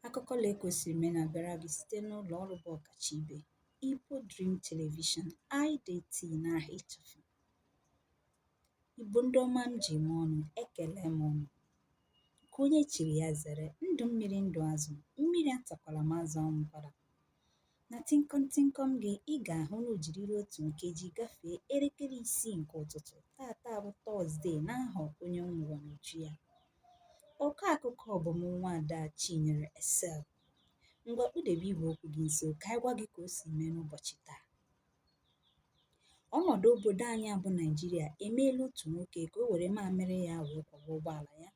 Akụkọ la ekwesịrị ime na-abịara gị site n'ụlọ ọrụ bụ ọkacha ibe Igbo Dream Television IDT na ịchafụ. Igbo ndị ọma m ji eme ọnụ ekele m unu nke onye chiri ya zere ndụ mmiri ndụ azụ mmiri atakwala ma azụ anwụkwala Na tịnkọm tịnkọm gị, ị ga-ahụ na o jirila otu nkeji gafee elekere isii nke ụtụtụ tata bụ Tọzdee n'aha onye nwụrụ n'uju ya. Ọkọ akụkọ bụ m nwa ada Chinyere Esel. Ngwa kpụdebe igwe okwu gị nso ka anyị gwa gị ka o si mee n'ụbọchị taa. Ọnọdụ obodo anyị a bụ Naijiria emeela otu nwoke ka o were mamịrị ya wee kwọba ụgbọala ya.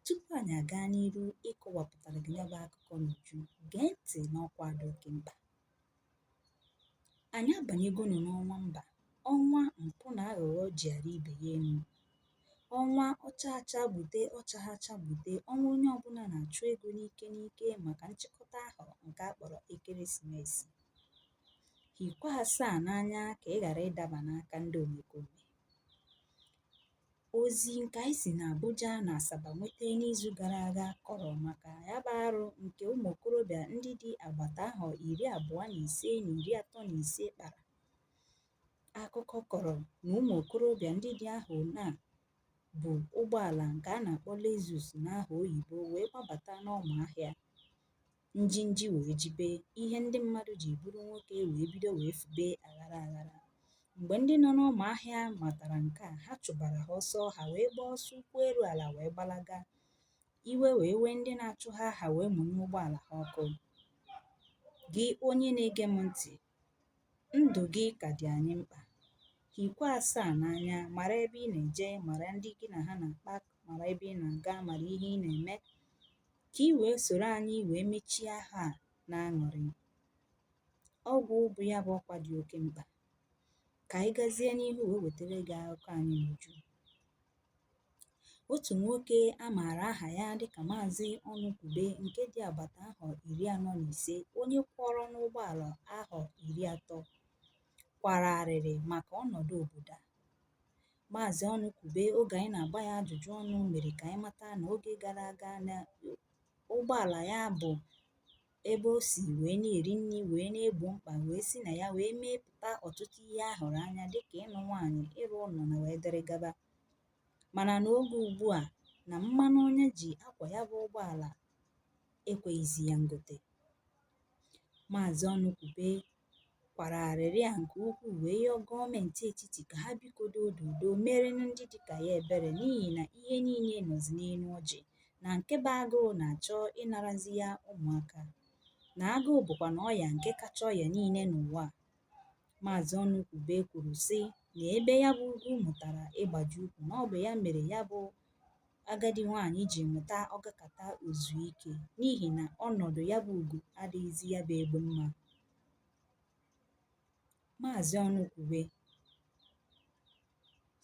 Tupu anyị aga n'iru ịkọwapụtara gị ya bụ akụkọ n'uju, gee ntị n'ọkwa dị oke mkpa. Anyị abanyegonu n'ọnwa mba, ọnwa mpụ na aghụghọ ji ara ibe ya enu. Ọnwa ọ cha acha gbute ọ chaha acha gbute, ọnwa onye ọbụla na-achụ ego n'ike n'ike maka nchịkọta ahọ nke a kpọrọ ekeresimesi. Hikwa asaa n'anya ka ị ghara ịdaba n'aka ndị omekome. Ozi nke anyị si n'Abuja na Asaba nweta n'izu gara aga kọrọ maka ya bụ arụ nke ụmụ okorobịa ndị dị agbata ahọ iri abụọ na ise na iri atọ na ise kpara. Akụkọ kọrọ na ụmụ okorobịa ndị dị ahụ na bu ụgbọala nke a na-akpọ Lexus n'aha oyibo wee gbabata n'ọma ahịa. njinji wee jibe ihe ndị mmadụ ji bụrụ nwoke wee bido wee fube aghara aghara mgbe ndị nọ n'ọma ahịa matara nke a ha chụbara ha ọsọ ha wee gbaa ọsọ ụkwụ eru ala wee gbalaga iwe wee wee ndị na-achụ ha ha wee mụnye ụgbọala ha ọkụ gị onye na-ege m ntị Ndụ gị ka dị anyị mkpa. Hikwa asaa n'anya, mara ebe ị na-eje, mara ndị gị na ha na-akpa, mara ebe ị na-aga, mara ihe ị na-eme, ka ị wee soro anyị wee mechie ahọ a n'aṅụrị. Ọgwụgwụ ya bụ ọkwa dị oke mkpa. Ka anyị gazie n'ihu wee wetara gị akụkọ anyị n'uju. otù nwokē a màrà ahà ya dịkà mazi Ọnụkwube ǹke dị àgbàtà ahọ̀ ìri anọ nà ìse onye kwọrọna ụgbọ àlà ahọ̀ ìri atọ kwàrà àrị̀rị màkà ọnọ̀dụ òbòdò a mazi Ọnụkwube ogè ànyị nà-àgba ya ajụ̀jụ ọnụ̄ mèrè kà ànyị mata nà ogē gara àga nà ụgbọ àlà ya bụ̀ ebe o si wee na-eri nri wee na-egbo mkpa wee si na ya wee mepụta ọtụtụ ihe a hụrụ anya dịka ịnụ nwaanyị ịrụ ụlọ na wee dịrị gaba mana n'oge ugbu a na mmanụ ọ na-eji akwọ ya bụ ụgbọala ekweghịzi ya ngote maazị ọnụkwube kwara arịrị a nke ukwuu wee yọọ gọọmenti etiti ka ha biko doo dodo meerenụ ndị dịka ya ebere n'ihi na ihe niile nọzi n'elu ọjị na nke bụ agụụ na-achọ ịnarazi ya ụmụaka na agụụ bụkwanụ ọya nke kacha ọya niile n'ụwa a. Maazị Ọnụkwube kwuru sị na ebe ya bụ ugwu mụtara ịgbaji ukwu na ọ bụ ya mere ya bụ agadi nwaanyị ji mụta ọ gakata o zuo ike n'ihi na ọnọdụ ya bụ ugo adịghịzi ya bụ egbe mma maazị ọnụkwube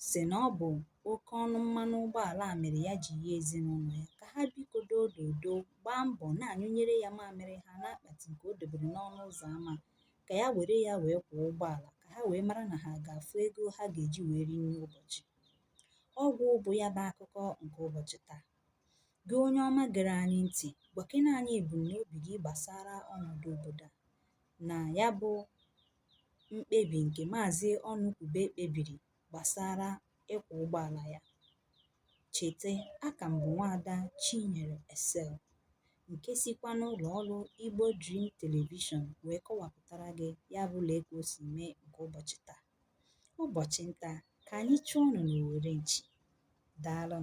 sị na ọ bụ oke ọnụ mmanụ ụgbọala a mere ya ji yọọ ezinụlọ ya ka ha biko doo dodo gbaa mbọ na-anyụnyere ya mamịrị ha n'akpati nke o dobere n'ọnụ ụzọ ama ka ya were ya wee kwọọ ụgbọala ka ha wee mara na ha ga-afụ ego ha ga-eji wee rie nri ụbọchị Ọ gwụ bụ ya bụ akụkọ nke ụbọchị taa. Gị onye ọma gere anyị ntị, gwakene anyị ebumnobi gị gbasara ọnọdụ obodo a na ya bụ mkpebi nke Maazị Ọnụkwube kpebiri gbasara ịkwọ ụgbọala ya. Cheta, aka m bụ nwaada Chinyere Esel nke sikwa n'ụlọ ọrụ Igbo Dream Television wee kọwapụtara gị ya bụ lee ka o si mee nke ụbọchị taa. Ụbọchị nta ka anyị chụọnụ n'owere nchi. Daalụ.